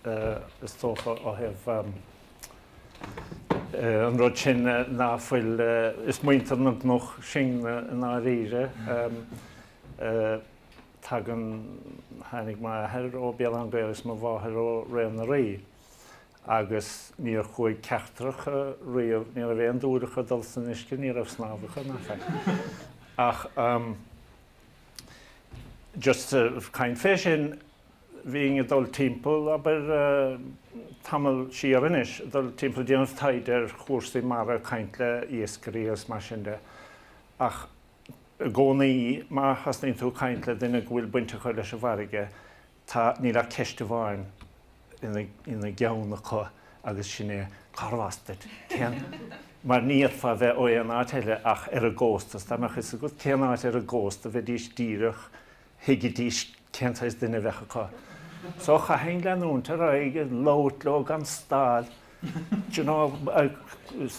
is dócha, ó thaobh an rud sin ná, bhuel, is muintir na gcnoc sin i ndáiríre, tagann, tháinig m'athair ó Béal Átha an Ghaorthaidh agus mo mháthair ó Ré na nDoirí agus níor chuaigh ceachtar acu riamh, ní raibh aon dúil acu dul san uisce, ní raibh snámh acu, ná faic.. Just ag caint faoi sin, bhínn ag dul timpeall, abair, tamall siar anois, ag dul timpeall ag déanamh taighde ar chúrsaí mara, caint le iascairí agus mar sin de. Ach i gcónaí, má thosnaíonn tú ag caint le duine go bhfuil baint acu leis an bhfarraige, Tá, níl ach ceist amháin ina gceann acu agus sin é, cárbh as duit? Cén, mar ní fhéadfá a bheith ó aon áit eile ach ar an gcósta, is dá mbeadh fhios agat cén áit ar an gcósta bheidís díreach, thuigidís cén saghas duine a bheadh acu. So chaithinn leanúint ar aghaidh ag labhairt leo gan stad, d'you know, ag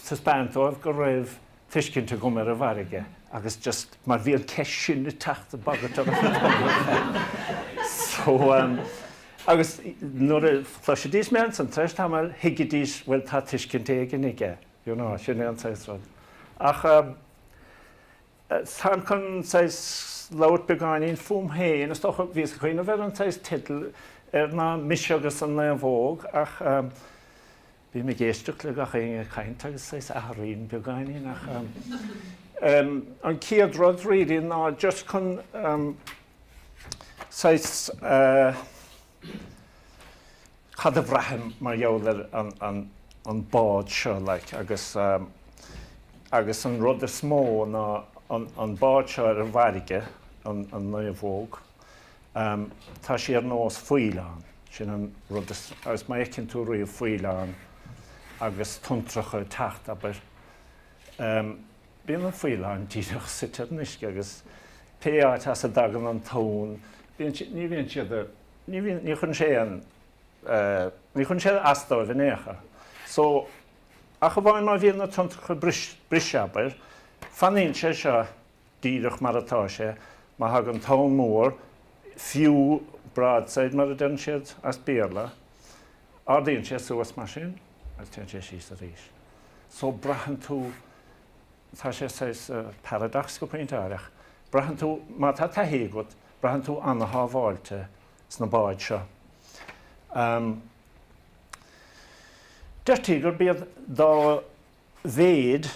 taispeáint dóibh go raibh, tuiscint agam ar an bhfarraige agus just mar bhí an ceist sin ag teacht, ag bagairt orm go tobann so ehm agus nuair a chloisidís mé ansan tar éis tamaill thuigidís bhuel tá tuiscint éigin aige you know sin é an saghas rud ach ehm táim chun saghas labhairt beagáinín fúm féin is dócha bhíos ag cuimhneamh ar an saghas teideal ar, ná Mise agus an Naomhóg ach ehm Bím ag éisteacht le gach éinne ag caint agus saghas athraím beagáinín ach ehm an chéad rud really ná just chun ehm saghas eh cad a bhraithim mar gheall ar an an an bád seo like agus ehm agus an rud is mó ná an an bád seo ar an bhfarraige, an an naomhóg, Tá sí ar nós faoileán, sin an rud is, agus má fheiceann tú riamh faoileán agus tonntracha ag teacht, abair, bíonn an faoileán díreach suite ar an uisce agus pé áit as a dtagann an tonn, bíonn sé, ní bhíonn siad, ní bhíonn, ní chuireann sé an, ní chuireann sé as dóibh in aon chor. So, ach amháin má bhíonn na tonntracha ag briseadh, abair, fanann sé seo díreach mar atá sé, má thagann tonn mór, fiú broadside mar a deireann siad as Béarla, ardaíonn sé suas mar sin agus téann sé síos arís. So braitheann tú, tá sé saghas paradox go pointe áirithe, braitheann tú, má tá taithí agat, braitheann tú ana-shábháilte sna báid seo. Deirtí gurb iad dá mhéid,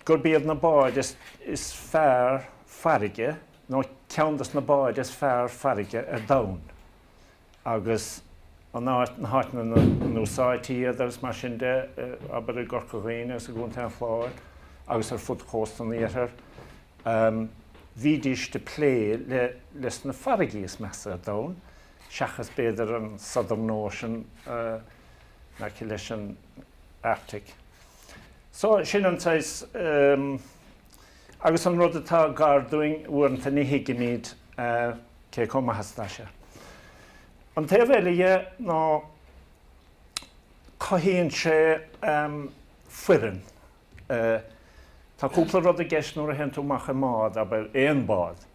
gurb iad na báid is fearr farraige nó ceann de na báid is fearr farraige ar domhan agus an áit, na háiteanna ina n-úsáidtí iad agus mar sin de, abair i gCorca Dhuibhne agus i gContae an Chláir agus ar fud chósta an iarthair, bhídís ag plé leis na farraigí is measa ar domhan seachas b'fhéidir an Southern Ocean in aice leis an Arctic. So, sin an saghas, em, agus an rud atá gar dúinn uaireanta ní thuigimid, eh, cé chomh maith is atá sé. An taobh eile dhe ná go gcothaíonn sé, em, foireann. Eh, tá cúpla rud i gceist nuair a théann tú amach i mbád, abair, aon bhád.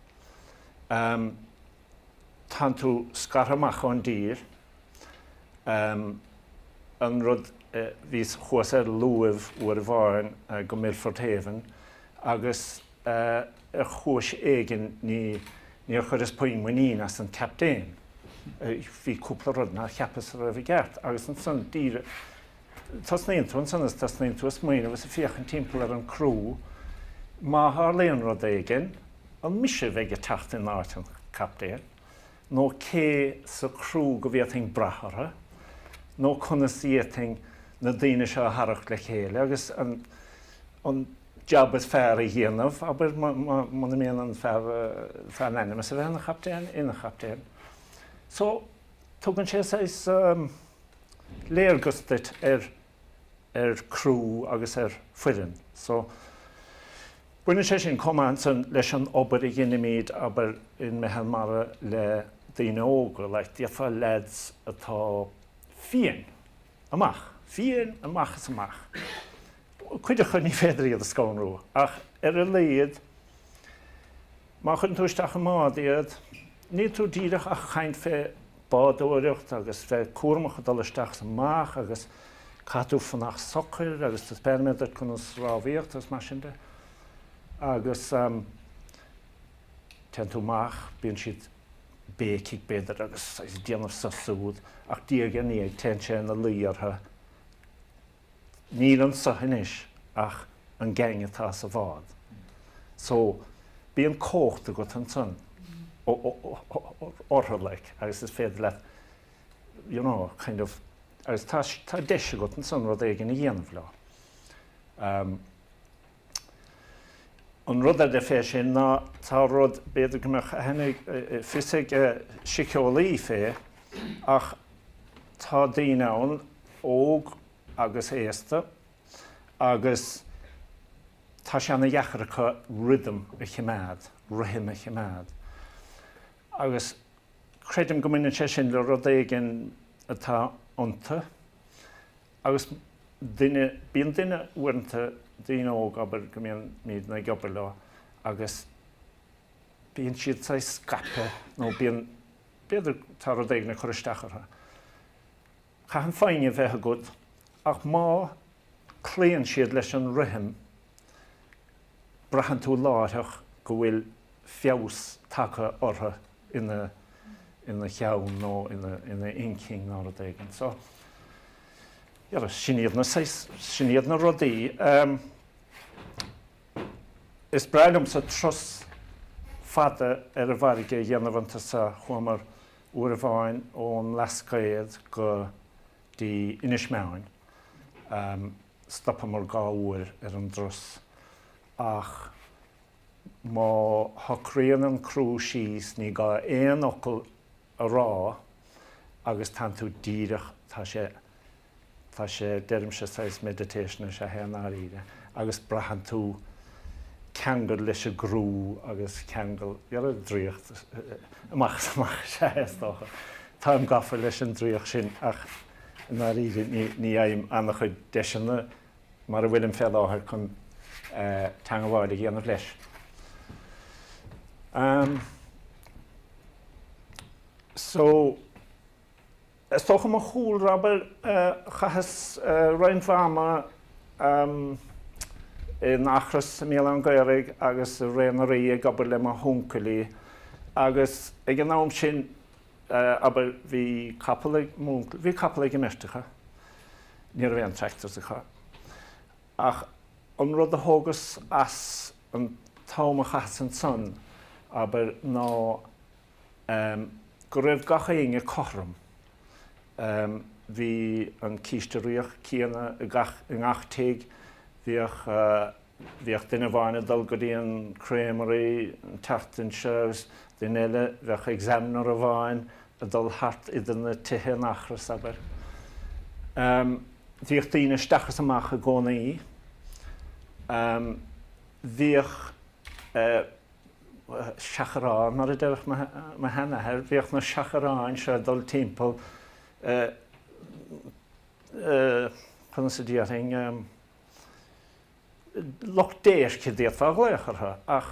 Em, tagann tú scartha amach ón dtír, An rud bhíos ar luaimh uair amháin go Milford Haven agus ar chúis éigin níor chuireas puinn muinín as an Captaen. Bhí cúpla rud nár cheapas a bhí i gceart agus ansan tosnaíonn tú ansan is tosnaíonn tú ag smaoineamh is ag féachaint timpeall ar an crew. Má tharlaíonn rud éigin, an mise a bheidh ag teacht in áit an Chaptaen? nó cé sa crew go bhféadfainn brath orthu, nó conas a d'fhéadfainn na daoine seo a tharrac le chéile agus an jab is fearr a dhéanamh, abair, muna mbíonn an fear in ainm is a bheith ina chaptaen, ina chaptaen. So, tugann sé saghas léargas duit ar. ar crew agus ar foireann. So, baineann sé sin chomh maith ansan leis an obair a dheinimid, abair, in Meitheal Mara le daoine óga, like, d'fhéadfá leaids atá fiáin amach, fiáin amach is amach, cuid acu ní féidir iad a scanrú ach ar a laghad, Má chuireann tú isteach i mbád iad, níl tú díreach ach ag caint fé bádóireacht agus bheith cúramach ag dul isteach is amach agus caithfidh tú fanacht socair agus do spéir a bheith chun na rámhaíocht agus mar sin de. Agus ehm, téann tú amach, bíonn siad ag béicigh b'fhéidir agus ag déanamh so súd ach diaidh ar ndiaidh téann sé ina luí orthu, Níl anso anois ach an gang atá sa bhád. So, bíonn an chomhacht agat ansan orthu, like, agus is féidir leat, you know, kind of, agus tá deis agat ansan rud éigin a dhéanamh leo. An rud eile fé sin ná tá rud, b'fhéidir go mbeadh aithne fios ag síceolaí fé, ach tá daoine ann óg agus aosta agus tá sé ana dheacair acu rithim a chimeád, rithim a chimeád. Agus creidim go mbaineann sé sin le rud éigin atá iontu, Agus duine, bíonn duine uaireanta, daoine óg, abair, go mbíonn, mbímid ag obair leo agus bíonn siad saghas scaipthe nó bíonn, b'fhéidir tá rud éigin ag cur isteach orthu. Caitheann foighne a bheith agat ach má cloíonn siad leis an rithim, braitheann tú láithreach go bhfuil feabhas tagtha orthu. ina cheann nó ina inchinn nó rud éigin. So, yeah, sin iad na saghas, sin iad na rudaí. Is breá liomsa turas fada ar an bhfarraige a dhéanamh iontu so chuamar uair amháin ón mBlascaod go dtí Inis Meáin. Stopamar dhá uair ar an dturas ach Má shocraíonn an crú síos ní gá aon fhocal a rá agus tagann tú díreach, tá sé, tá sé, deirimse saghas meditation is ea é i ndáiríre agus braitheann tú ceangal leis an gcrú agus ceangal, you know, draíocht, amach is amach is ea é is dócha. Táim gafa leis an draíocht sin ach i ndáiríre ní fhaighim an-chuid deiseanna. mar a bhfuilim fé láthair chun teangabháil a dhéanamh leis. So, is dócha mo chúlra, abair, chaitheas roinnt ama in Eachros i mBéal Átha an Ghaorthaidh agus i Ré na nDoirí ag obair le mo huncailí agus ag an am sin abair, bhí capall ag m'uncail, bhí capall ag an mbeirt acu, ní raibh aon tractors acu, ach an rud a thógas as an t-am a chaitheas ansan, abair, ná ehm go raibh gach éinne cothrom, ehm bhí an císte riabhach céanna i gach, i ngach tigh, bhíodh eh, Bhíodh duine amháin ag dul go dtí an Creamery an tseachtain seo agus duine eile, bheadh Examiner amháin ag dul thart idir na tithe in Eachros, abair. Bhíodh daoine isteach is amach i gcónaí. Bhíodh seachráin, mar a déarfadh mo sheanathair, bhíodh na seachráin seo ag dul timpeall, conas a déarfainn, Lucht déirce a d'fhéadfá a ghlaoch orthu, ach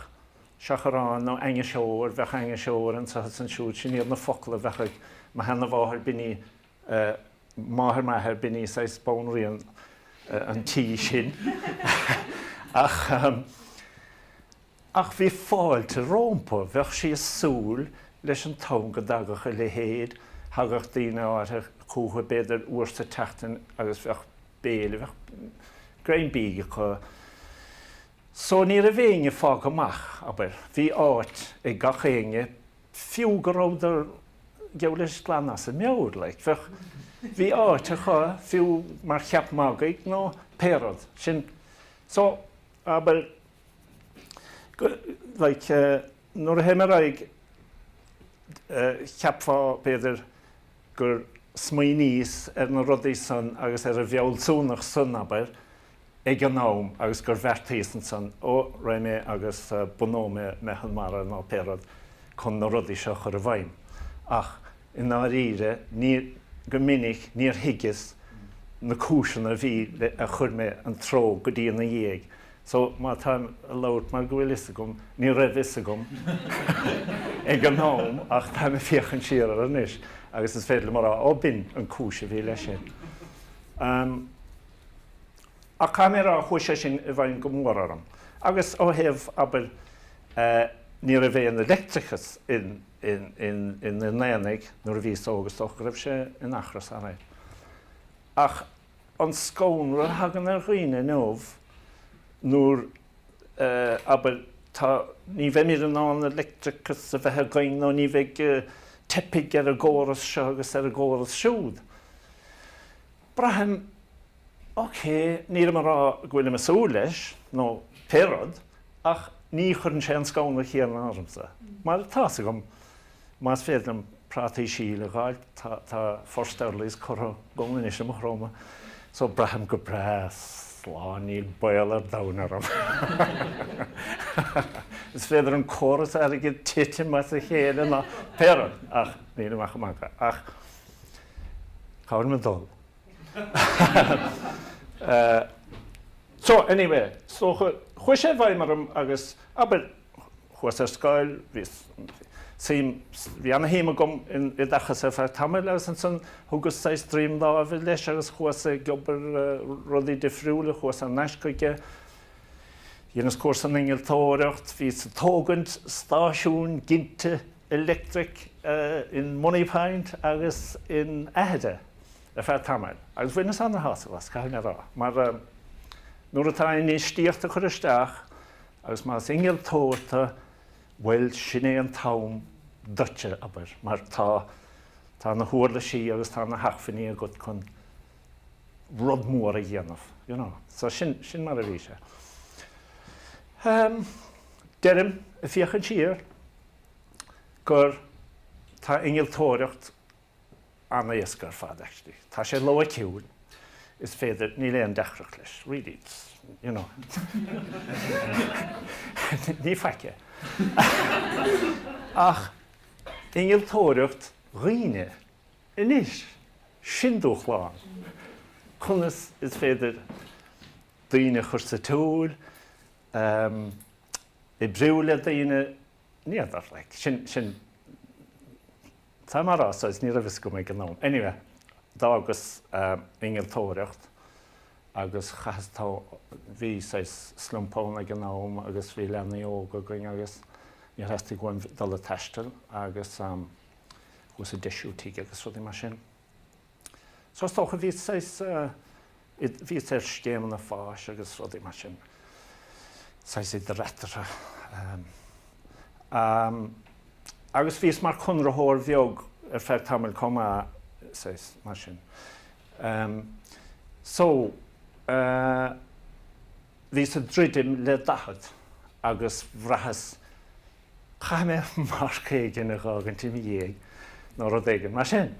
seachráin nó ainniseoir, bheadh ainniseoir anseo is ansiúd, sin iad na focail a bheadh ag mo sheanamháthair b'in í máthair m'athair, b'in í saghas banríon an tí sin. Ach. Ach bhí fáilte rómpa, bheadh sí ag súil leis an t-am go dtagadh a leithéid, thagadh daoine áirthe chúthu b'fhéidir uair sa tseachtain agus bheadh béile, bheadh greim bídh acu. So ní raibh éinne fágtha amach, abair. Bhí áit ag gach éinne, fiú go rabhadar, geall leis, glan as a meabhair, like. Bheadh, bhí áit acu, fiú mar cheap magaidh nó pé rud. Sin, so, abair. like nuair a théim ar aghaidh cheapfá b'fhéidir gur smaoiníos ar na rudaí san agus ar an bhfealsúnacht san abair ag an am agus gur bheartaíos ansan ó raghaidh mé agus bunóidh mé meitheal mara nó pé rud chun na rudaí seo a chur i bhfeidhm ach i ndáiríre ní go minic níor thuigeas na cúiseanna a bhí le a chuir mé an treo go dtí ina dhiaidh So, má táim ag labhairt mar go bhfuil fhios agam, ní raibh fhios agam ag an am ach táim ag féachaint siar air anois agus is féidir liom a rá, oh, b'in an cúis a bhí leis sin. Ahem. Ach caithfidh mé a rá, chuaigh sé sin i bhfeidhm go mór orm. Agus ó thaobh, abair, eh, ní raibh aon leictreachas in, in, in, in, in Aonaigh nuair a bhíos óg, is dócha go raibh sé i Maigh Chromtha alright. Ach. an scanradh a thagann ar dhaoine inniu nuair, eh, abair, tá, ní bheimid in ann an leictreachas a bheith againn nó ní bheidh, eh, teipfidh ar an gcóras seo agus ar an gcóras siúd. Braithim, ok, nílim a rá go bhfuilim ag súil leis nó pé rud ach ní chuireann sé an scanradh céanna ormsa mar tá fhios agam, Más féidir liom prátaí síl a dh'fháil, tá First Earlies curtha agam anois i Maigh Chromtha, so braithim go breá slán níl baol ar domhan orm. Is féidir an córas airgid titim as a chéile nó pé rud, ach níl amach i mBanca. Ach cá bhfuilim ag dul? So, anyway, so chuaigh sé i bhfeidhm orm agus, abair, Chuas ar scoil, bhí suim, bhí ana-shuim agam in oideachas ar feadh tamaill agus ansan thugas saghas droim láimhe leis agus chuas ag obair rudaí difriúla, chuas thar n-ais chuige, dheineas cúrsa in innealtóireacht, bhíos ag tógaint stáisiúin ginte leictreach in Moneypoint agus in Aithire ar feadh tamaill agus bhaineas ana-shásamh as, caithfidh mé a rá, mar nuair atá infheistíocht á chur isteach, Agus más innealtóir tú, bhuel, sin é an t-am duitse, abair, mar tá, tá na huirlisí agus tá na hacmhainní agat chun rud mór a dhéanamh, you know. So sin, sin mar a bhí sé. Deirim, ag féachaint siar, gur, tá innealtóireacht. an-éasca ar fad actually. Tá sé loighiciúil, is féidir, níl aon deacracht leis really, it's, you know. Ní faic é. Ach innealtóireacht dhaoine anois, sin dúshlán. Conas is féidir daoine a chur sa tsiúl, oibriú le daoine, ní fheadar like, sin, sin, Tá mé ag rá so agus ní raibh fhios agam ag an am. Anyway, d'fhágas innealtóireacht agus chaitheas tamall, bhí saghas slump ann ag an am agus bhí leanaí óga againn agus níor theastaigh uaim dul ag taisteal agus chuas ag deisiú tigh agus rudaí mar sin. Is dócha, bhí saghas, bhíos ar scéimeanna FÁS agus rudaí mar sin, saghas idir eatarthu. Agus bhíos mar chonraitheoir bheag ar feadh tamaill chomh maith, saghas mar sin. So, bhíos ag druidim le daichead agus bhraitheas, Caithfidh mé marc éigin a fhágaint i mo dhiaidh nó rud éigin mar sin.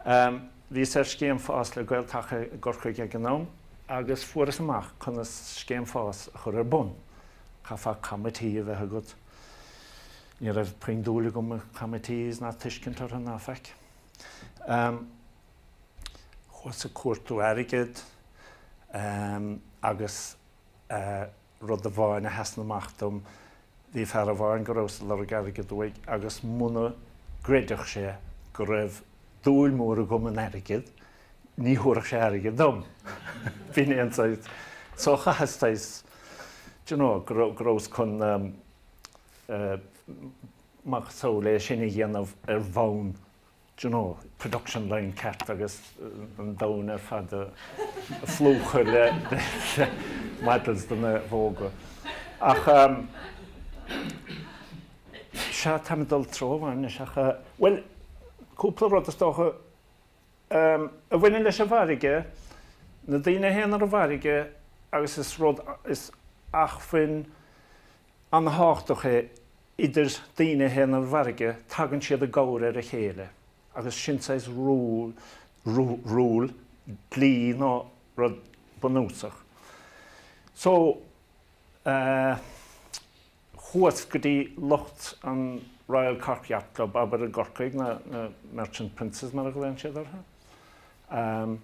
Bhíos ar scéim FÁS le Gael-Taca i gCorcaigh ag an am agus fuaireas amach conas scéim FÁS a chur ar bun. Chaithfeá committee a bheith agat. Ní raibh puinn dúil agam i committees ná tuiscint orthu ná faic. Chuas ag cuardú airgid agus Rud amháin a sheasaíonn amach dom, bhí fear amháin go rabhas ag lorg airgead uaidh agus muna gcreidfeadh sé go raibh dúil mór agam in airgead, ní thabharfadh sé airgead dom. B'in é an saghas. So chaitheas saghas, d'you know, go raibh, go rabhas chun eh, macasamhail é sin a dhéanamh ar bhonn do you know, production line ceart agus an domhan ar fad a phlúchadh le models de naomhóga. Ach sea, táim ag dul i dtreo amháin anois ach, bhuel, cúpla rud is dócha a bhaineann leis an bhfarraige, na daoine a théann ar an bhfarraige agus is rud, is acmhainn An-thábhachtach é, idir daoine a théann ar an bhfarraige, tagann siad i gcabhair ar a chéile, agus sin saghas rule, rule, dlí nó rud bunúsach. So, eh, chuas go dtí lucht an Royal Cork Yacht Club, abair, i gCorcaigh, na, na Merchant Princes mar a ghlaonn siad orthu. Em,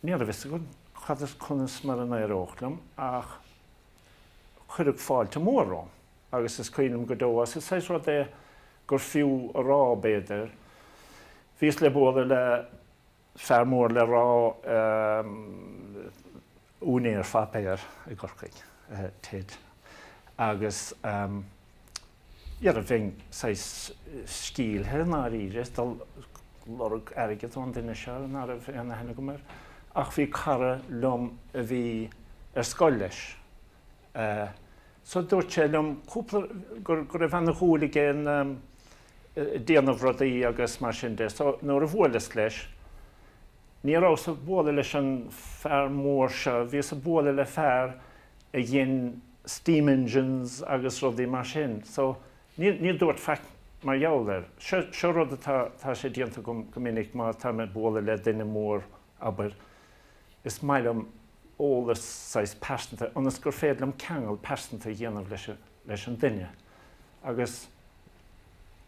ní raibh a fhios agam cad is, conas mar a éireodh liom, ach. cuireadh fáilte mhór romham agus is cuimhin liom go deo air. Is saghas rud é gur fiú a rá, b'fhéidir. Bhíos le bualadh le fear mór le rá, úinéir páipéir i gCorcaigh, Ted, agus, Eh bhíos saghas sceimhlithe i ndáiríre, ag dul ag lorg airgead ón duine seo ná raibh aon aithne agam air, ach bhí cara liom a bhí ar scoil leis, so dúirt sé liom cúpla, go raibh ana dhúil aige i ndéanamh rudaí agus mar sin de, so nuair a bhuaileas leis, ní rabhas ag bualadh leis an fear mór seo, bhíos ag bualadh le fear a dhein, steam engines agus rudaí mar sin. So, ní, ní dúirt faic mar gheall air. Seo, seo rud atá, tá sé déanta agam go minic má tá mé ag bualadh le duine mór, abair, is maith liom eolas saghas pearsanta, ionas gur féidir liom ceangal pearsanta a dhéanamh leis an, leis an duine. Agus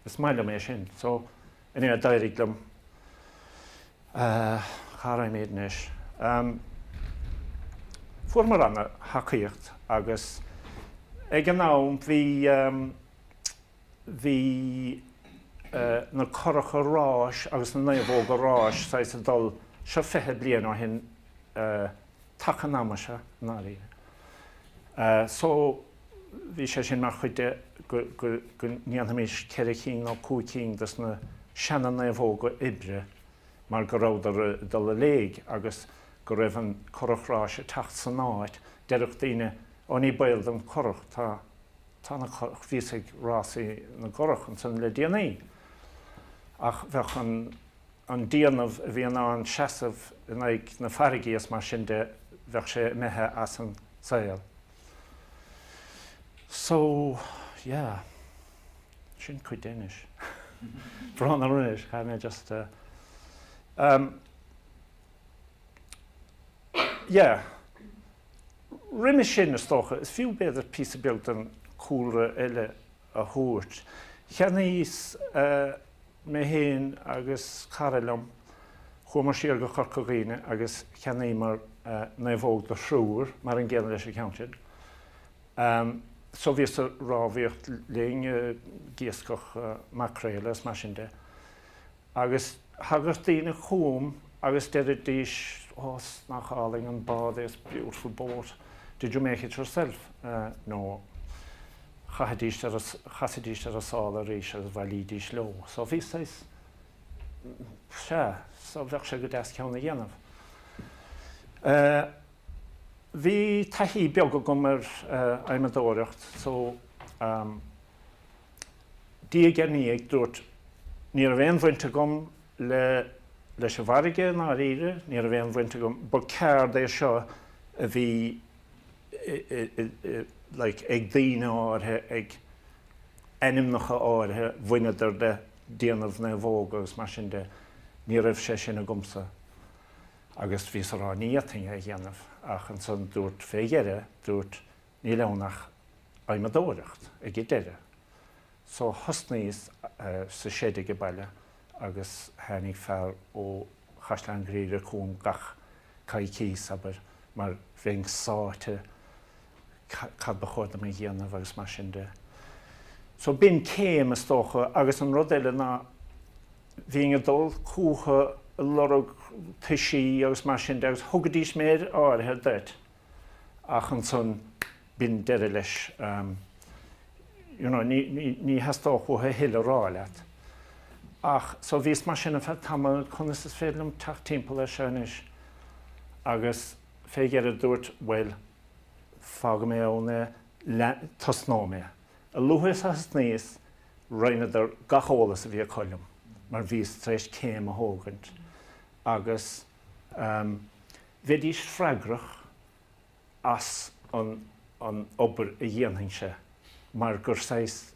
is maith liom é sin. So, anyway, d'éirigh liom, Ahh, cá raibh mé anois? Ehm. Fuaireamar ana thacaíocht agus ag an am bhí ehm. bhí eh na curacha ráis agus na naomhóga ráis saghas ag dul, seo fiche bliain ó shin eh taca an ama seo, ndáiríre. Eh so. Bhí sé sin mar chuid de go ndéanfaimis ceithre cinn nó cúig cinn dos na seana-naomhóga oibre mar go rabhadar ag dul i léig agus go raibh an curach ráis ag teacht san áit. Déarfadh daoine, 'Ó ní baol don churach, tá na, bhíos ag rásaí na gcurach ansan le déanaí. Ach bheadh an déanamh a bhí in ann seasamh in aghaidh na farraigí, agus mar sin de, bheadh sé imithe as an saol. So, yeah. Sin cuid de, anois. Brón anois, chaithfidh mé just, um, yeah. Roimis sin, is dócha, is fiú b'fhéidir píosa beag den chúlra eile a thabhairt. Cheannaíos mé féin agus cara liom, chuamar siar go Corca Dhuibhne agus cheannaíomar naomhóg do thriúr, mar an gcéanna leis an cheann sin. So bhíos a' rámhaíocht linn ag iascach maicréal is mar sin de. Agus thagadh daoine chugam agus deiridís, Ó nach álainn an bád é, it's a beautiful boat, did you make it yourself? No. Chasaidís ar a sála arís agus bhailídís leo. So bhí saghas, sea, go mbeadh sé go deas ceann a dhéanamh. Bhí taithí beag agam ar adhmadóireacht, so, Diaidh ar ndiaidh dúrt, Ní raibh aon bhaint agam le, leis an bhfarraige, i ndáiríre, ní raibh aon bhaint agam, ba ceird é seo a bhí like ag daoine áirithe, ag ainmneacha áirithe, bhaineadar le déanamh naomhóga agus mar sin de, ní raibh sé sin agamsa. Agus bhíos a' rá, ní fhéadfainn é a dhéanamh. Ach ansan dúrt, fé dheireadh, dúrt, Níl ann ach adhmadóireacht ag an deireadh. So thosnaíos sa seid ag an baile agus tháinig fear ó Chaisleán Ghriaire chugam gach coicís, abair, mar bheinn sáite cad ba chóir dom a dhéanamh agus mar sin de. So b'in céim, is dócha, agus an rud eile ná bhínn ag dul chucu ag lorg toisí agus mar sin de agus thugaidís méid áirithe duit. ach ansan b'in deireadh leis. You know, ní, ní, ní theastódh uathu a thuilleadh a rá leat. Ach, so bhíos mar sin ar feadh tamaill, conas is féidir liom teacht timpeall air seo anois? Agus fé dheireadh dúrt, bhuel, fágfaidh mé ann é, lean, tosnóidh mé. A luaithe is a thosnaíos, roinneadar gach eolas a bhí acu liom, mar bhíos tar éis céim a thógaint. Agus, um, Bheidís freagrach as an an obair a dhéanfainnse mar gur saghas,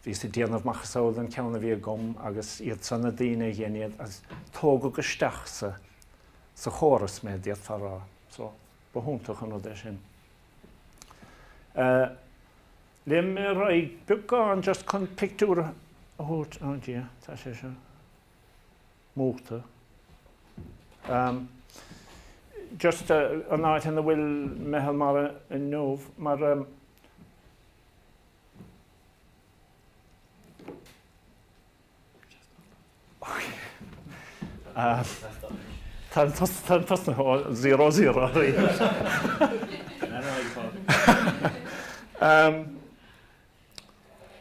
bhíos ag déanamh macasamhail den cheann a bhí agam agus iadsan na daoine a dhein iad agus tógadh isteach sa sa chóras mé, d'fhéadfá a rá. So, ba hiontach an rud é sin. Léimfidh mé ar aghaidh beagán just chun pictiúr a thabhairt, oh dear, tá sé seo. múchta. Just an áit ina bhfuil Meitheal Mara inniu, mar táim ag tosnú ó zero zero arís.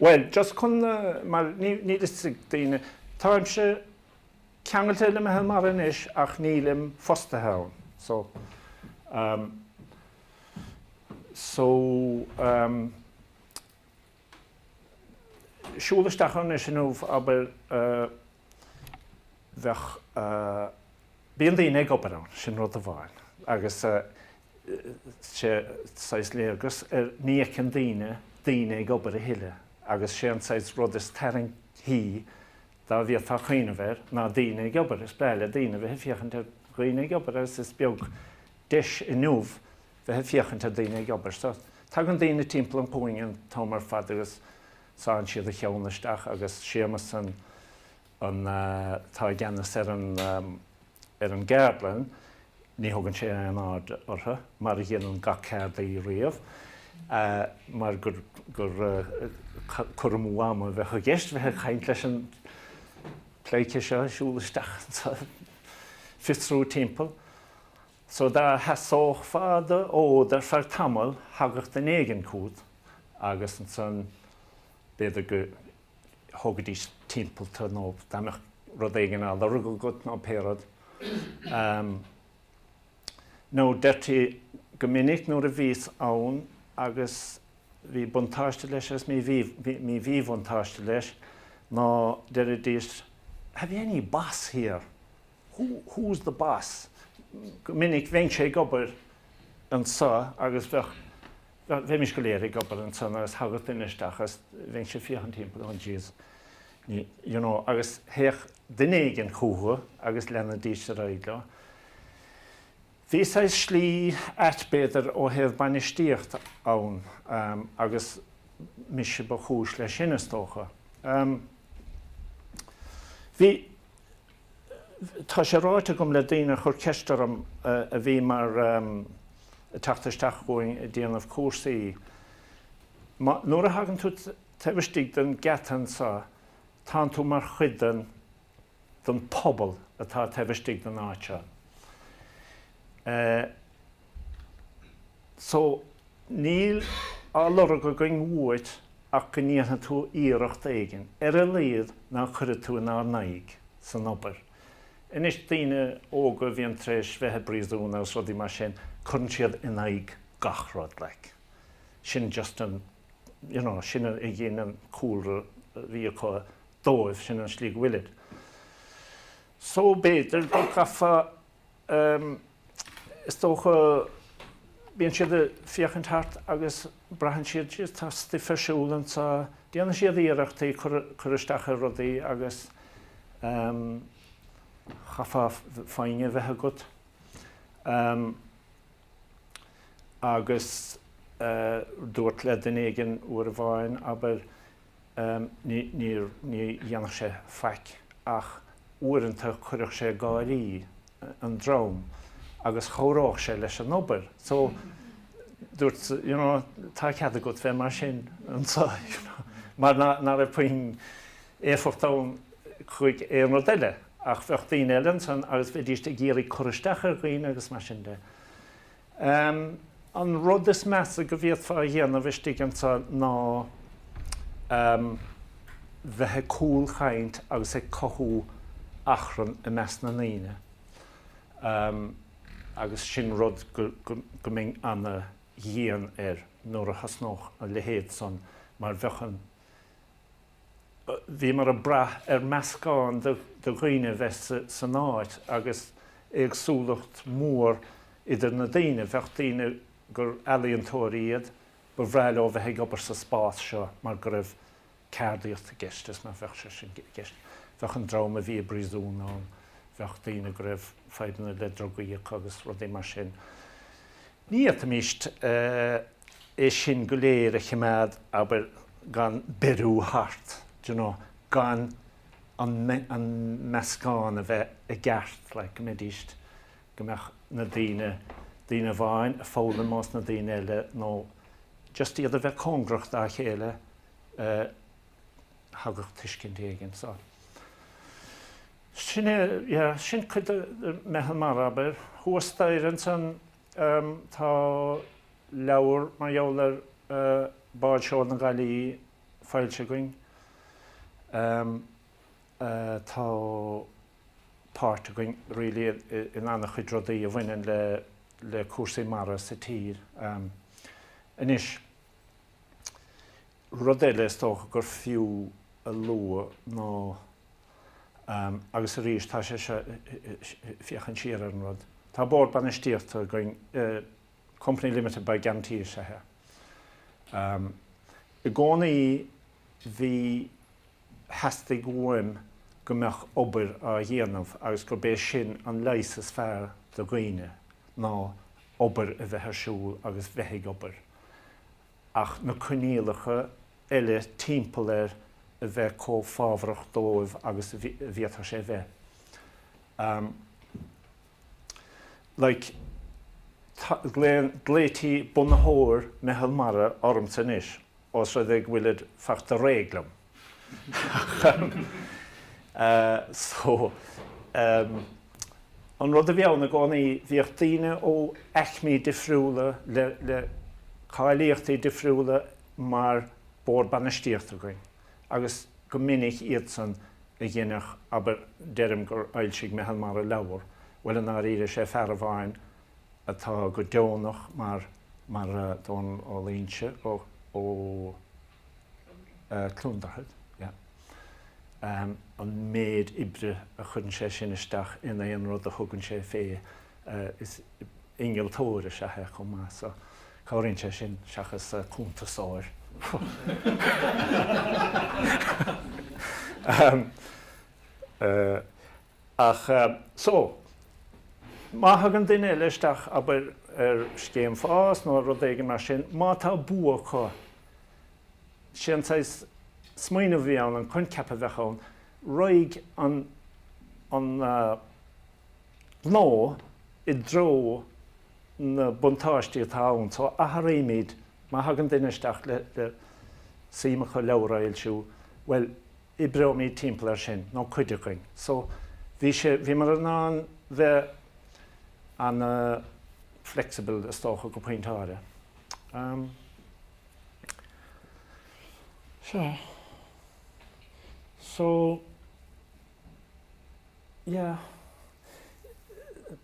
Bhuel, just chun, mar níl fhios ag daoine, táimse ceangailte le Meitheal Mara anois ach nílim fostaithe ann. So, ehm, so, ehm, siúl isteach ann anois inniu, abair, eh, bheadh, eh, bíonn daoine ag obair ann, sin rud amháin, agus, eh, sé saghas léargas ar ní fheiceann daoine daoine ag obair a thuilleadh agus sé an saghas rud is tarraingtí dá bhféadfá cuimhneamh air ná daoine ag obair. Is breá le daoine bheith ag féachaint ar dhaoine ag obair agus is beag deis inniu bheith ag féachaint ar daoine ag obair. So, tagann daoine timpeall an chúinne an t-am ar fad agus sánn siad a cheann isteach agus Séamus an an té atá i gceannas ar an ar an gceardlann, ní thugann sé aon aird orthu, mar a dhéanann gach ceardaí riamh, mar gur gur cur amú ama a bheadh i gceist bheith ag caint leis an pleidhce seo ag siúl isteach is ag fiosrú timpeall so dá sheasófá do fhód ar feadh tamaill thagadh duine éigin chugat agus ansan b'fhéidir go thógaidís timpeall tú nó dá mbeadh rud éigin á lorg agat nó pé rud. Nó deirtí go minic nuair a bhíos ann agus bhí buntáiste leis agus mí mhíbhuntáiste leis ná deiridís Have you any boss here? Who, who's the boss? Go minic bheinnse ag obair anseo agus bheadh Bheimis go léir ag obair ansan agus thagadh duine isteach agus bheinnse ag féachaint timpeall, oh jeez, you know, agus théadh duine éigin chucu agus leanaidís ar aghaidh leo. Bhí saghas slí ait b'fhéidir ó thaobh bainistíocht ann agus mise ba chúis leis sin is dócha. Bhí. Tá sé ráite agam le daoine a chuir ceist orm a bhí mar ag teacht isteach chugainn ag déanamh cúrsaí, má, nuair a thagann tú taobh istigh den geata anseo, tánn tú mar chuid den, den phobal atá taobh istigh den áit seo. So, níl á lorg againn uait ach go ndéanfaidh tú iarracht éigin, ar a laghad ná cuirfeá tú inár n-aghaidh san obair. Anois, daoine óga a bhíonn tar éis bheith i bpríosún agus rudaí mar sin, cuireann siad in aghaidh gach rud, like. Sin just an, you know, sin a ghin an cúlra a bhí acu dóibh, sin an slí go bhfuilid. So, b'fhéidir go gcaithfeá. Is dócha, bíonn siad ag féachaint thart agus braitheann siad, Jesus, tá stuif ar siúl anseo, déanann siad iarrachtaí cur, cur isteach ar rudaí agus chaithfeá foighne a bheith agat. Agus dúirt le duine éigin uair amháin, abair, ní dhéanfadh sé faic ach uaireanta chuirfeadh sé ag gáirí an dream agus chabhródh sé leis an obair. So, dúirt, you know, tá cead agat bheith mar sin anseo, mar ná raibh puinn. éifeacht ann chuig aon rud eile, ach bheadh daoine eile ansan agus bheidíst ag iarraidh cur isteach ar dhaoine agus mar sin de. An rud is measa go bhféadfá a dhéanamh istigh anso ná bheith ag cúlchaint agus ag cothú achrann i measc na ndaoine agus sin rud go mbeinn ana-dhian air nuair a thosnódh a leithéid san mar bheadh an Bhíomar ag brath ar meascán de dhaoine a bheith san áit agus éagsúlacht mhór idir na daoine. Bheadh daoine gur ealaíontóirí iad, ba bhreá leo bheith ag obair sa spás seo mar go raibh ceardaíocht i gceist is bheadh sé sin i gceist. Bheadh an dream a bhí i bpríosún ann, bheadh daoine go raibh fadhbanna le drugaí acu agus rudaí mar sin. Ní fhéadfaimís é sin go léir a choimeád, abair, gan beiriú thairis, d'you know, gan an, an meascán a bheith i gceart, like, go mbeidís, go mbeadh na daoine, daoine amháin a' foghlaim ós na daoine eile nó just iad a bheith cóngarach dá chéile eh, thagadh tuiscint éigin so. Sin é, yeah, sin cuid de, de Mheitheal Mara, abair, thuas staighre ansan, Tá leabhar mar gheall ar báid seoil na Gaillimhí foilsithe againn. Tá páirt againn really in an-chuid rudaí a bhaineann le cúrsaí mara sa tír. Anois, rud eile is dócha gur fiú a lua ná, Agus arís, tá sé seo ag féachaint siar ar an rud. Tá bord bainistíochta againn, company limited by guarantee is ea é. I gcónaí bhí, theastaigh uaim go mbeadh obair á dhéanamh agus gurb é sin an leigheas is fearr do dhaoine ná obair a bheith ar siúl agus bheith ag obair. ach na coinníollacha eile timpeall air a bheith chomh fabhrach dóibh agus a bhféadfadh sé a bheith. Ahem. Like, glaonn, glaoití Bunaitheoir Meitheal Mara ormsa anois, os rud é go bhfuilid fachta réidh liom. So, an rud a bhí ann i gcónaí, bhíodh daoine ó aicmí difriúla le, le cáilíochtaí difriúla mar Bord Bainistíochta againn agus go minic iadsan a dheineadh, abair, deirim gur fhoilsigh Meitheal Mara leabhar, bhuel, i ndáiríre is é fear amháin atá go deonach mar, mar Dónall Ó Luínse ó, ó. Cluain Droichead, yeah. An méid oibre a chuireann sé sin isteach in aon rud a thugann sé fé, innealtóir is ea é chomh maith so cabhraíonn sé sin seachas cuntasóir. Ach so, má thagann duine eile isteach, abair, ar scéim fás nó rud éigin mar sin, má tá bua acu Sé an saghas smaoineamh a bhí ann, an coincheap a bheadh ann, raghaidh an gnó i dtreo na buntáistí atá ann. So athraímid, má thagann duine isteach le suim acu leabhar a fhoilsiú, bhuel, oibreoimid timpeall air sin, nó cuid againn. So bhí sé, bhíomar in ann bheith ana flexible is dócha go pointe áirithe.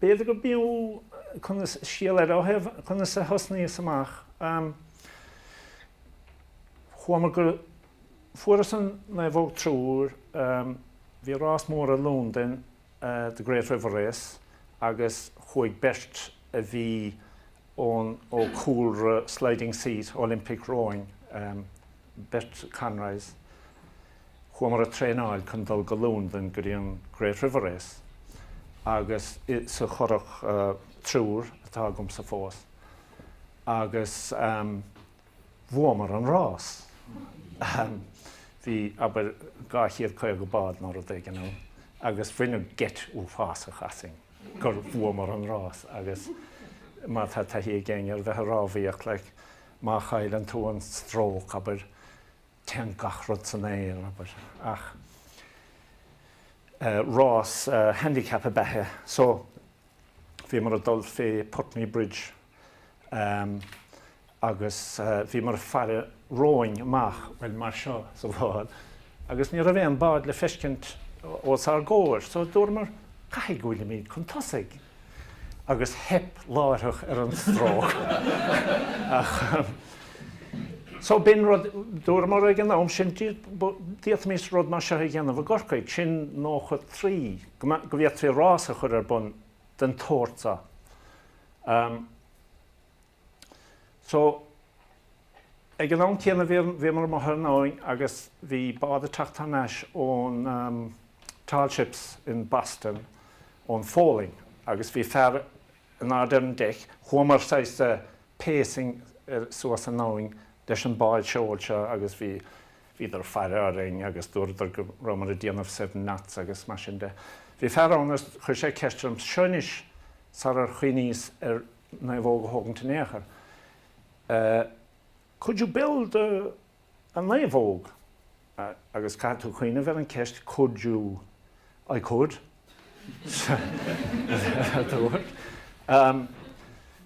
B'fhéidir gurbh fhiú scéal eile a thabhairt, conas a thosnaíos amach. Chuamar go, fuaireas an naomhóg triúr, bhí rás mór i Londain, the Great River Race, agus chuaigh beirt a bhí ón ó chúlra Sliding Seat, Olympic Rowing, beirt Conroys, chuamar ag traenáil chun dul go Lúndain go dtí an Great River Race agus i sa churach triúr atá agamsa fós agus bhuamar an rás. Bhí, abair, 250 bád nó rud éigin ann agus baineadh geit uafásach asainn. gur bhuamar an rás agus má tá taithí ag éinne ar bheith ag rámhaíocht, like, má chailleann tú an stróc, abair, téann gach rud san aer, abair. Ach eh, rás eh, handicap ab ea é. So, bhíomar ag dul fé Putney Bridge, em, agus bhíomar ag faire romhainn amach, bhuel, mar seo, sa bhád, agus ní raibh aon bád le feiscint os ár gcomhair, so dúramar, caithfidh go bhfuilimid chun tosaigh, agus theip láithreach ar an stróc, ach, so b'in rud, dúramar ag an am sin, d'fhéadfaimis rud mar seo a dhéanamh i gCorcaigh, sin nócha trí, go bhféadfaí rás a chur ar bun den tsórt seo. So, ag an am céanna bhíomar amuigh ar an abhainn agus bhí bád ag teacht thar n-ais ón Tall Ships in Boston, ón Pholainn, agus bhí fear in airde ar an deic, chuamar saghas ag pacing suas an abhainn leis an bád seoil seo agus bhí, bhíodar ag faire orainn agus dúradar go rabhamar ag déanamh seven knots agus mar sin de. Bhí fear ann agus chuir sé ceist orm, seo anois sarar chuimhníos ar naomhóg a thógaint in aon chor. Could you build a naomhóg? Agus caithfidh tú cuimhneamh ar an gceist could you? I could.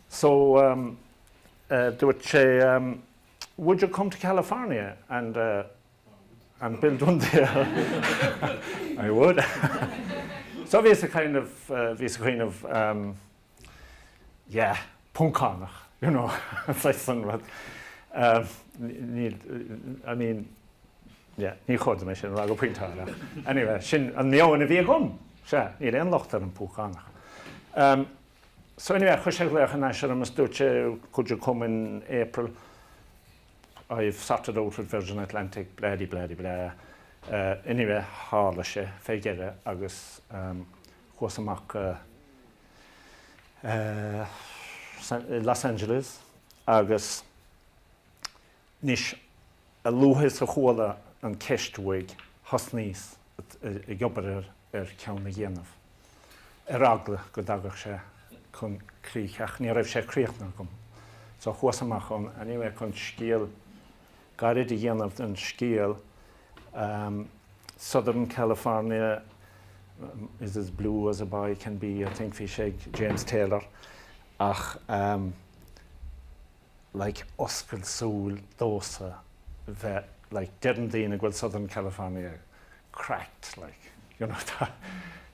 So dúirt sé would you come to California and and build one there? I would. So bhíos ag cuimhneamh, bhíos ag cuimhneamh, yeah, Poncánach, you know, saghas an rud. Níl, I mean, yeah, ní chóir dom é sin a rá go pointeáil ach anyway, sin an meon a bhí agam, sea, níl aon locht ar an bPoncánach. So anyway, chuir sé glaoch thar n-ais orm is dúirt sé, could you come in April, I've sorted out with Virgin Atlantic, blah-de-blah-de-blah. Anyway, tharla sé fé dheireadh agus. Chuas amach go Los Angeles agus anois, a luaithe is a chuala an ceist uaidh, thosnaíos ag obair ar cheann a dhéanamh, ar eagla go dtagadh sé chun críche, ach ní raibh sé críochnaithe agam. So, chuas amach anyway chun scéal gairid a dhéanamh den scéal, Southern California is as blue as a boy can be, I think, bhí sé ag James Taylor, ach like oscailt súl domhsa bheith like deireann daoine go bhfuil Southern California cracked like you know tá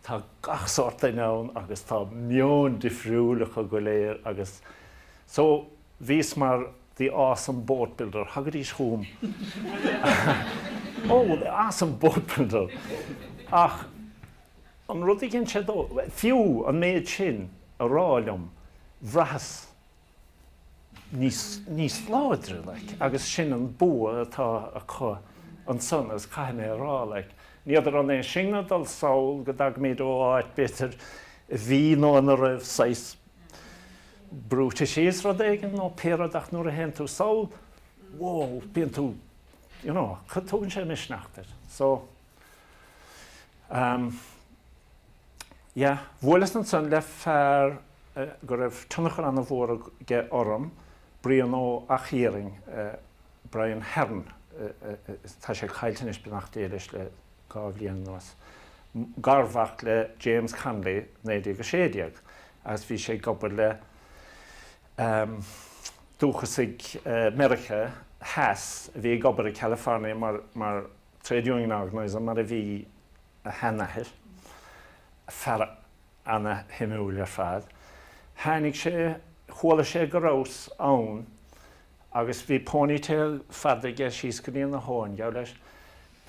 tá gach sórt duine ann agus tá meon difriúil acu go léir agus so Bhíos mar the awesome boat builder, thagaidís chugam oh, the awesome boat builder! Ach an rud a dhein sé dom, fiú an méid sin a rá liom, bhraitheas níos láidre, like, agus sin an bua atá acu ansan, agus caithfidh mé a rá, like, n'fheadar an leis sinne a dul sall go dtagaimid ó áit, b'fhéidir, a bhí nó ina raibh saghas, brúite síos rud éigin nó pé rud ach nuair a théann tú sall, wow, bíonn tú, you know, tugann sé misneach duit? So, um, yeah. Bhuaileas ansan le fear go raibh tionchar an-mhór aige orm, Brian Ó hEachthiairn, Brian Heron, tá sé caillte anois beannacht Dé leis le dhá bhliain anuas, garmhac le James Connolly, 1916, agus bhí sé ag obair le dúchasaigh Mheiriceá Theas a bhí ag obair i California mar trade union organiser, mar a bhí a sheanathair, fear ana-shuimiúil ar fad. Tháinig sé, chuala sé go rabhas ann Agus bhí ponytail fada aige síos go dtína thóin, geall leis,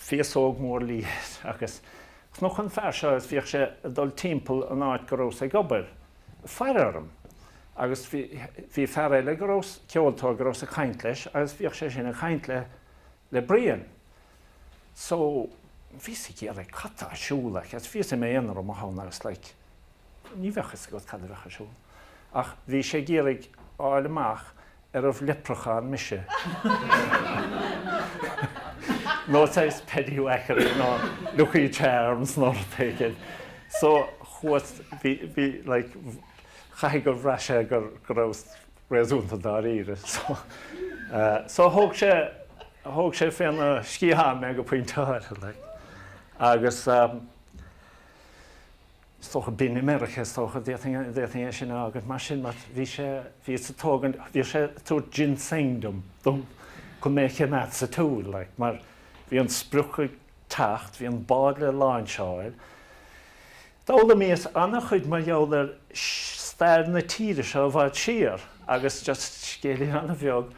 féasóg mhór liath agus cnoc an fear seo agus bhíodh sé ag dul timpeall an áit go rabhas ag obair, ag faire orm. Agus bhí, bhí fear eile go rabhas, ceoltóir go rabhas ag caint leis agus bhíodh sé sin ag caint le, le Brian. So, bhíos ag déanamh, cad tá ar siúl, like, as bhíos i m'aonar i mo thóin agus like, Ní bheadh fhios agat cad a bheadh ar siúl, ach bhí sé ag iarraidh fháil amach an raibh leipreachán ann mise. Nó tá is petty you accurate nó Lucky Charms nó rud éigin. So chuas, bhí, bhí, like, caithfidh gur bhraith sé gur, go raibh réasúnta dáiríre. So, eh, so thóg sé, thóg sé féna sciathán mé go pointe, like. Agus, eh, is dócha a bhíonn i Meiriceá, is dócha, d'fhéadfainn é sin a fhágaint mar sin, mar bhí sé, bhí ag tógaint, bhí sé ag tabhairt ginseng dom, dom, chun mé a choimeád sa tsiúl, like, mar bhí an sprioc ag teacht, bhí an bád le lainseáil. D'fhoghlaimíos an-chuid mar gheall ar stair na tíre seo i bhfad siar, agus just scéilín an-bheag,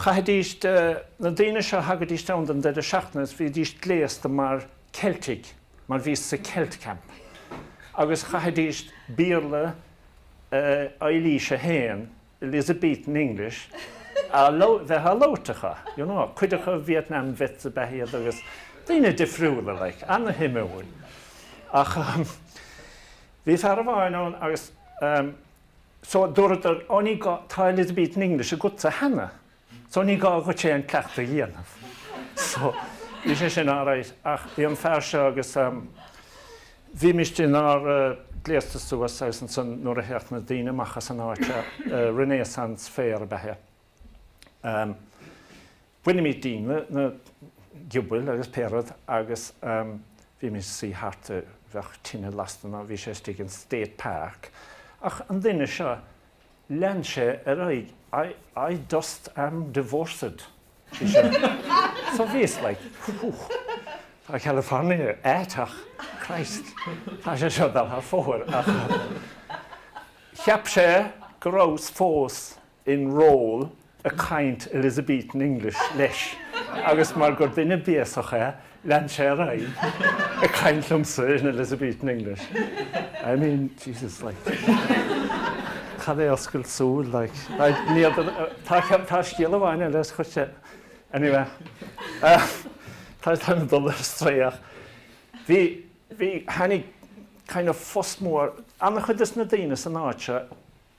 chaithfidís, na daoine seo, thagaidís ann don deireadh seachtaine agus bhídís gléasta mar Ceiltigh, mar bhíos sa Celt Camp, agus chaithfidíst Béarla Eilís a hAon, Elizabethan English, a bheith á labhairt acu, you know, cuid acu Vietnam vets ab ea iad agus daoine difriúla, like, ana-shuimiúil. Ach bhí fear amháin ann agus, so, dúradar, oh ní gá, tá Elizabethan English agatsa cheana. So ní gá dhuit aon cleachtadh a dhéanamh. So bhí sé sin alright ach bhí an fear seo agus ehm bhímist inár gléasta suas agus ansan nuair a théadh na daoine amach as an áit a' Renaissance Fair ab ea é ehm bhainimid dínn na, na giobail agus pé rud agus ehm bhímid suí thart i, bheadh tine lasta nó bhí sé istigh in State Park ach an duine seo, Lean sé ar aghaidh, I dost am divorced. So bhíos like, Fuck, tá California ait ach Christ, tá sé seo ag dul thar fóir. Cheap sé go rabhas fós in role ag caint Elizabethan English leis agus mar gur duine béasach é, lean sé ar aghaidh ag caint liomsa in Elizabethan English. I mean, Jesus, like, cad é oscailt súl, like. Tá scéal amháin eile is chuirte, anyway, tá mé ag dul ar strae ach bhí, bhí, tháinig kind of fuss mór, an-chuid de na daoine san áit seo,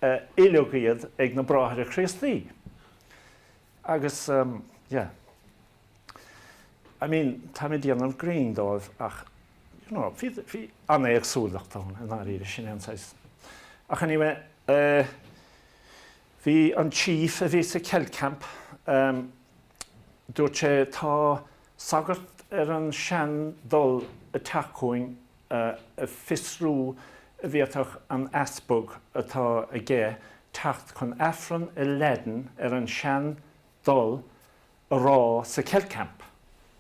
oileadh iad ag na Bráithre Críostaí. Agus, yeah. I mean, táim ag déanamh grinn dóibh ach, you know, bhí, bhí an-éagsúlacht ann, i ndáiríre, sin é an saghas. Ach anyway, eh, bhí an Chief a bhí sa Celt Camp, em, dúirt sé, tá sagart ar an sean dul ag teacht chugainn ag fiosrú an bhféadfadh an easpag atá aige teacht chun Aifreann i Laidin ar an sean dul a rá sa Celt Camp.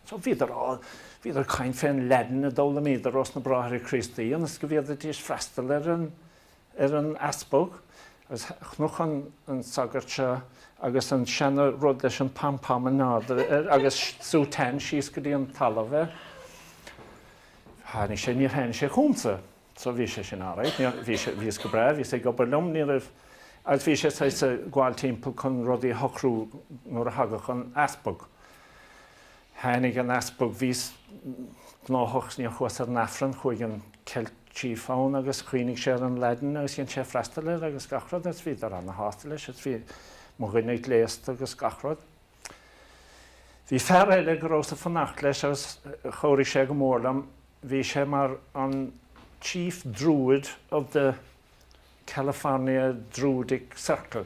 So bhíodar á, bhíodar ag caint fén Laidin a d'fhoghlaimíodar ós na Bráithre Críostaí ionas go bhféadfaidís freastal ar an, ar an easpag is chonac an sagart so agus an seana rud leis an pom pom in airde air agus sútán síos go dtí an talamh air. Tháinig sé, níor tháinig sé chugamsa. So bhí sé sin alright, níor, bhí sé, bhíos go breá, bhíos ag obair liom, ní raibh, agus bhí sé saghas ag gabháil timpeall chun rudaí a shocrú nuair a thagadh an easpag. Tháinig an easpag, bhíos gnóthach, níor chuas ar an Aifreann, chuaigh an Celt, Chief ann agus chuimhnigh sé ar an Laidin agus dhein sé freastal air agus gach rud agus bhíodar ana-shásta leis agus bhí mo dhuine gléasta agus gach rud. Bhí fear eile go rabhas ag fanacht leis agus chabhraigh sé go mór liom, bhí sé mar an Chief Druid of the California Druidic Circle,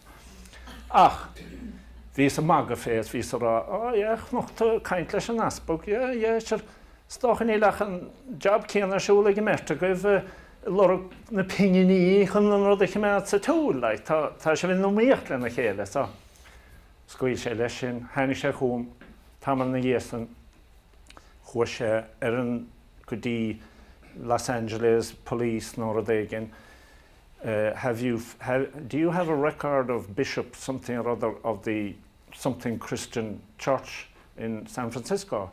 Ach bhíos ag magadh fé is bhíos ag rá, Á, yeah, chonac tú ag caint leis an Easpag, yeah, yeah, sure, is dócha níl ach an job céanna ar siúl ag an mbeirt agaibh, eh, ag lorg na pinginí chun an rud a chimeád sa tsiúl, like, tá, tá sibh in iomaíocht lena chéile, so. Scaoil sé leis sin, tháinig sé chugam tamall ina dhiaidh san, chuaigh sé ar an, go dtí Los Angeles Police nó rud éigin, have you, do you have a record of Bishop something or other of the something Christian church in San Francisco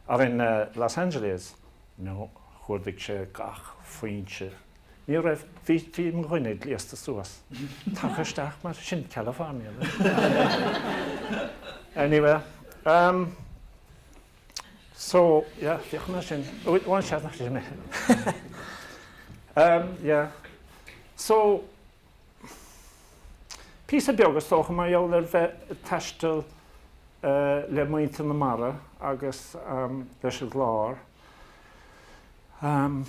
or in Los Angeles? No, chuardaigh sé gach foinse. Ní raibh. Bhí, bhí mo dhuine gléasta suas. Tagtha isteach mar sin, California. Anyway, um. So, yeah, féach mé sin. Bhuel, bhain sé nach raibh mé. Umm, yeah. So, píosa beag, is dócha, mar gheall ar bheith ag taisteal le muintir na mara agus leis an gclár. Umm,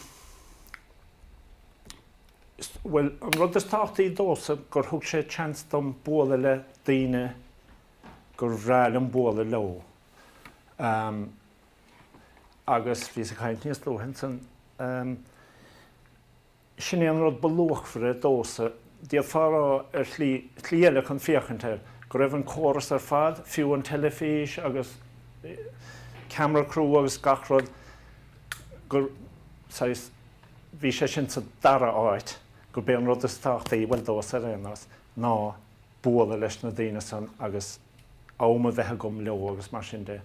bhuel, an rud is tábhachtaí domhsa gur thug sé chance dom bualadh le daoine gur bhreá liom bualadh leo. Agus bhíos ag caint níos luaithe ansan, sin é an rud ba luachmhaire domhsa, d'fhéadfá a rá ar shlí, slí eile chun féachaint air, go raibh an córas ar fad, fiú an teilifís agus camera crew agus gach rud, gur, saghas, bhí sé sin sa dara háit, gurb é an rud is tábhachtaí, bhuel, domhsa ar aon nós, ná bualadh leis na daoine san agus, am a bheith agam leo agus mar sin de,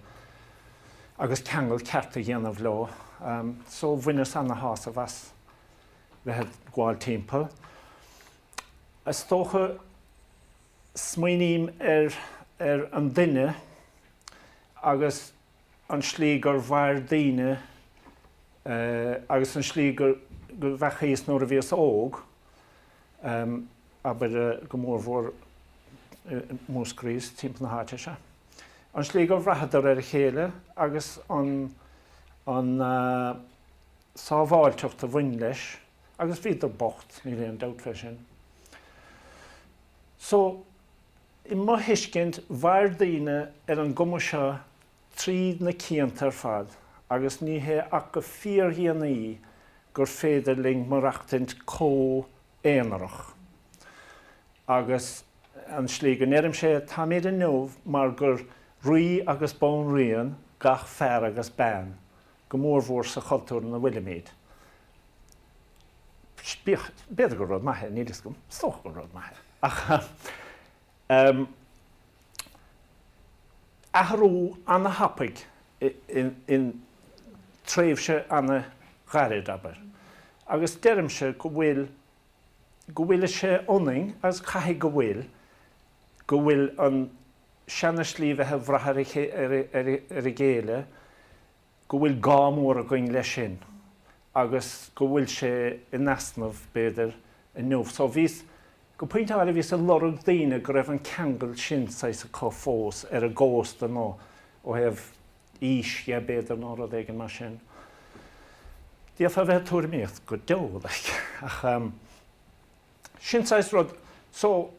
agus ceangal ceart a dhéanamh leo. So bhaineas ana-shásamh as bheith ag gabháil timpeall. Is dócha, smaoiním ar an duine agus. an slí gur mhair daoine agus an tslí go, bheadh fhios agat, nuair a bhíos óg, abair, go mórmhór i Múscraí is timpeall na háite seo, an slí gur bhraitheadar ar a chéile agus an sábháilteacht a bhain leis, agus bhíodar bocht, níl aon dabht fé sin. So, I mo thuiscint, mhair daoine ar an gcuma seo tríd na cianta ar fad agus ní hé ach go fíordhéanaí gur féidir linn maireachtaint chomh haonarach. Agus an slí go ndeirim sé, táimid inniu mar gur rí agus banríon gach fear agus bean, go mór-mhór sa chultúr ina bhfuilimid. b'fhéidir gur rud maith é, níl 'fhios agam, is dócha gur rud maith é, ach ehm athrú ana-thapaidh in tréimhse ana-ghairid, abair, agus deirimse go bhfuil, go bhfuil sé ionainn agus caithfidh go bhfuil, go bhfuil an seana-shlí bheith ag brath ar a chéile go bhfuil gá mór againn leis sin agus go bhfuil sé in easnamh, b'fhéidir, inniu. So bhíos, go pointe áirithe, bhíos ag lorg daoine go raibh an ceangal sin saghas acu fós ar an gcósta nó ó thaobh aois dhe, b'fhéidir, nó rud éigin mar sin. D'fhéadfá a bheith ag tuairimíocht go deo, like, ach, um, sin saghas rud. So.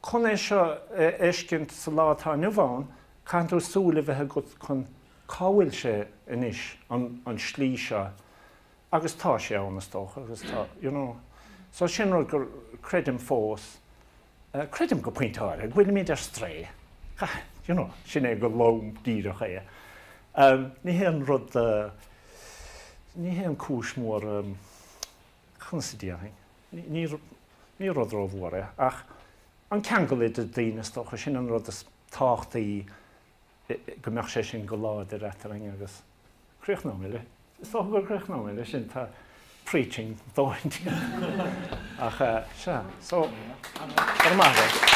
Chun é seo a fheiscint sa lá atá inniu ann, caitheann tú súil a bheith agat chun, cá bhfuil sé anois, an slí seo, agus tá sé ann, is dócha, agus tá, you know. So sin rud, creidim fós, creidim go pointe áirithe, go bhfuilimid ar strae, you know, sin é go lom díreach é. Ní haon rud, ní haon cúis mhór. Conas a déarfainn? Ní rud rómhór é, ach an ceangal idir daoine, is dócha, sin an rud is tábhachtaí, go mbeadh sé sin go láidir eadrainn agus críochnóidh mé, is dócha go gcríochnóidh mé leis sin, tá preaching a dhóthain déanta ach sea, so, go maith leis.